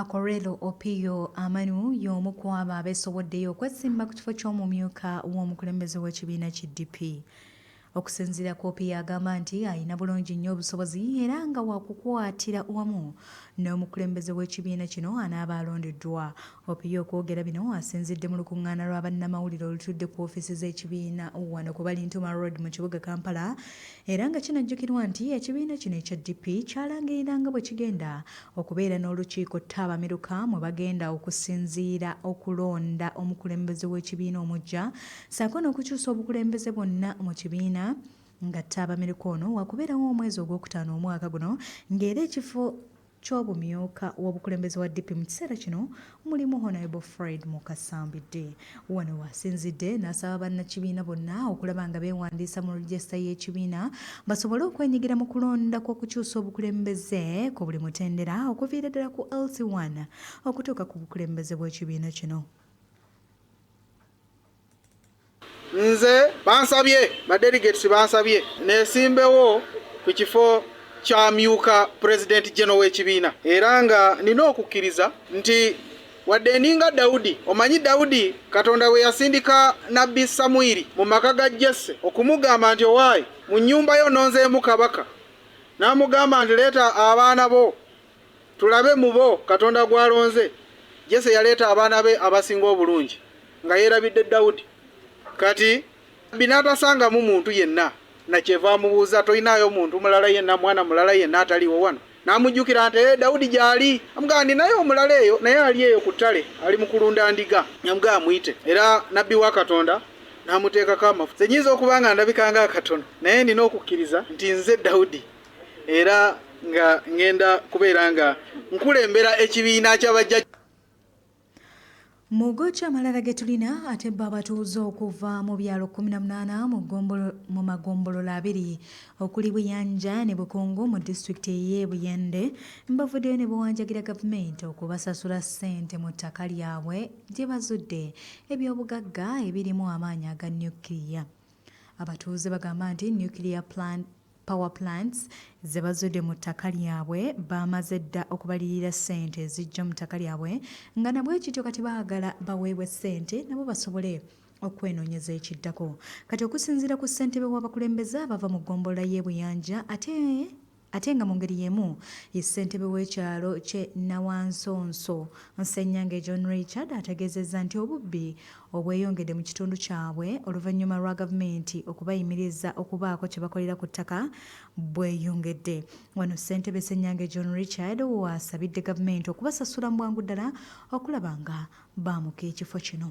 Akorelo Opio Amanu y'omu ku abo abeesowoddeyo okwesimba ku kifo ky'omumyuka w'omukulembeze w'ekibiina ki DP. Okusinziira ku Opio agamba nti alina bulungi nnyo obusobozi era nga wakukwatira wamu n'omukulembeze w'ekibiina kino anaaba alondeddwa Opiyo okwogera bino asinzidde mu lukungaana lwa bannamawulire olutudde ku ofiisi z'ekibiina wano ku Balintuma Road mu kibuga Kampala era nga kinajjukirwa nti ekibiina kino ekya DP kyalangirira nga bwekigenda okubeera n'olukiiko ttabamiruka mwe bagenda okusinziira okulonda omukulembeze w'ekibiina omuggya saako n'okukyusa obukulembeze bwonna mu kibiina nga ttabamiruka ono wakubeerawo omwezi ogwokutaano omwaka guno ng'era ekifo ky'obumyuka w'obukulembeze wa DP mu kiseera kino mulimu Honourable Fred Mukasa Mbidde. Wano w'asinzidde n'asaba bannakibiina bonna okulaba nga beewandiisa mu Register y'ekibiina basobole okwenyigira mu kulonda kw'okukyusa obukulembeze ku buli mutendera okuviira ddala ku LC1 okutuuka ku bukulembeze bw'ekibiina kino. Nze bansabye ba delegates bansabye nesimbewo ku kifo kyamyuka president general w'ekibiina era nga nina okukkiriza nti wadde ninga Dawudi, omanyi Dawudi Katonda bwe yasindika nabbi Samwiri mu maka ga Jesse okumugamba nti owaaye mu nnyumba yo nonzeemu kabaka, n'amugamba nti leeta abaana bo Tulabe mu bo Katonda gw'alonze. Jesse yaleeta abaana be abasinga obulungi, nga yeerabidde Dawudi. Kati, Nabbi n'atasangamu muntu yenna, na kyeva amubuuza, Tolinaayo muntu mulala yenna, mwana mulala yenna ataliiwo wano? N'amujjukira nti, Ee, Dawudi gy'ali. Amugamba nti, Naye omulala eyo, naye ali eyo ku ttale, ali mu kulunda ndiga. N'amugamba, Muyite. Era Nabbi wa Katonda n'amuteekako amafuta. Nze nnyinza okuba nga ndabika nga akatono, naye nnina okukkiriza nti nze Dawudi. era nga ngenda kubeera nga nkulembera ekibiina kyabajja mu goki amalala ge tulina ate bo abatuuze okuva mu byalo 18 mu magombolola abiri okuli buyanja ne bukungu mu disitulikiti eye buyende bavuddeyo ne bawanjagira gavumenti okubasasula ssente mu ttaka lyabwe gye bazudde ebyobugagga ebirimu amaanyi aga nukiriya abatuuze bagamba nti nukiriya plant Power plants ze bazudde mu ttaka lyabwe baamaze dda okubaliyirira ssente ezijja mu ttaka lyabwe nga nabwekityo kati baagala baweebwe ssente nabo basobole okwenoonyeza ekiddako. Kati okusinziira ku ssentebe w'abakulembeze abava mu ggombolola y'e Buyanja ate ate nga mu ngeri y'emu ye ssentebe w'ekyalo kye Nawansonso Nsenyange John Richard ategeezezza nti obubbi obweyongedde mu kitundu kyabwe oluvannyuma lwa gavumenti okubayimiriza okubaako kye bakolera ku ttaka bweyongedde. Wano ssentebe Ssenyange John Richard w'asabidde gavumenti okubasasula mu bwangu ddala okulaba nga baamuka ekifo kino.